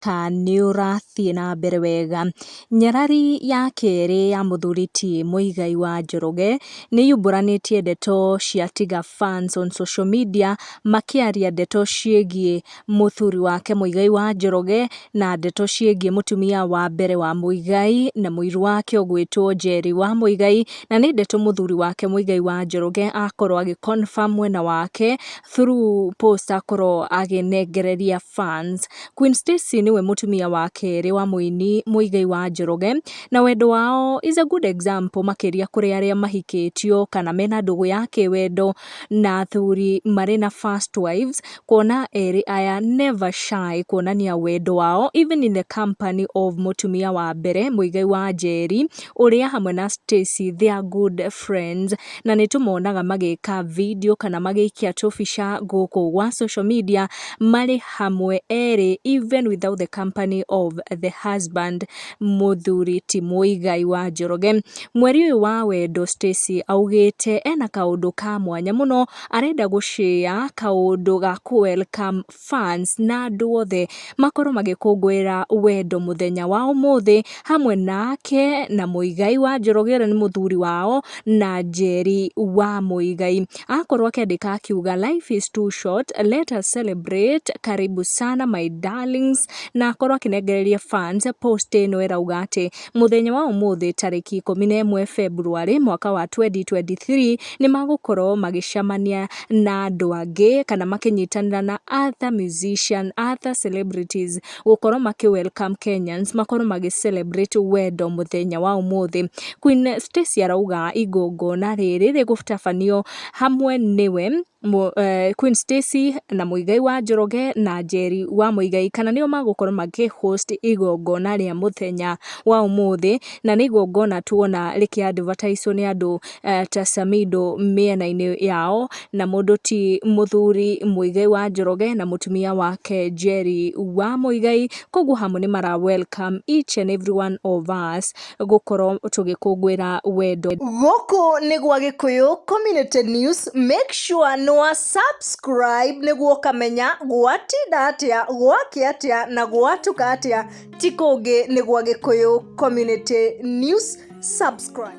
mũhaka nĩ ũrathiĩ na mbere wega. Nyarari ya kerĩ ya mũthuri ti Mũigai wa Njoroge, nĩ yumbũranĩtie ndeto cia Tiga Fans on social media, makĩaria ndeto ciĩgiĩ mũthuri wake Mũigai wa Njoroge, na ndeto ciĩgiĩ mũtumia wa mbere wa Mũigai, na mũiru wake ũgwĩtwo Njeri wa Mũigai, na nĩ ndeto mũthuri wake Mũigai wa Njoroge akorwo agĩ confirm mwena wake, through post akorwo akĩnengereria fans. Queen Stacy nĩwe mũtumia wa kerĩ wa mũini Mũigai wa Njoroge, na wendo wao is a good example makĩria kũrĩ arĩa mahikĩtio kana mena ndũgũ ya kĩwendo na athuri marĩ na first wives, kuona erĩ aya never shy kuonania wendo wao even in the company of mũtumia wa mbere Mũigai wa Njeri, ũrĩa hamwe na Stacy they are good friends, na nĩ tũmonaga magĩka video kana magĩikia tũbica gũkũ gwa social media marĩ hamwe erĩ even without the company of the husband mũthuri ti Muigai wa Njoroge. Mweri ũyũ wa wendo Stacy augĩte ena kaũndũ ka mwanya mũno arenda gũ share kaũndũ ga kũ welcome fans na andũ othe makorwo magĩkũngũĩra wendo mũthenya wa ũmũthĩ hamwe nake na Mũigai wa Njoroge ũrĩa nĩ mũthuri wao na Njeri wa Mũigai. Akorwo akĩandĩka akiuga life is too short, let us celebrate, karibu sana my darlings na akorwo akĩnengereria fans post ĩno ĩrauga atĩ. Mũthenya wa ũmũthĩ tarĩki ikũmi na ĩmwe February mwaka wa 2023 nĩ magũkorwo magĩcemania na andũ angĩ kana makĩnyitanĩra na other musician, other celebrities gũkorwo makĩ welcome Kenyans makorwo magĩ celebrate wendo mũthenya wa ũmũthĩ. Queen Stacy arauga igongona rĩrĩ rĩgũtabanio hamwe nĩwe Queen Stacy na Muigai wa Njoroge na Njeri wa Muigai kana nĩo magũkorwo makĩ host igongona rĩa mũthenya wa ũmũthĩ na nĩ igongona tuona rĩkĩ advertise wo nĩ andũ ta Samido mĩena-inĩ yao na mũndũ ti mũthuri Muigai wa Njoroge na mũtumia wake Njeri wa Muigai, koguo hamwe nĩ mara welcome each and every one of us gũkorwo tũgĩkũngũĩra wendo. Gũkũ nĩ gwa Gĩkũyũ Community News, make sure nĩ wa subscribe nĩguo ũkamenya gwatinda atĩa, gwakĩa atĩa na gwatuka atĩa, ti kũngĩ nĩ gwa Gĩkũyũ Community News, subscribe.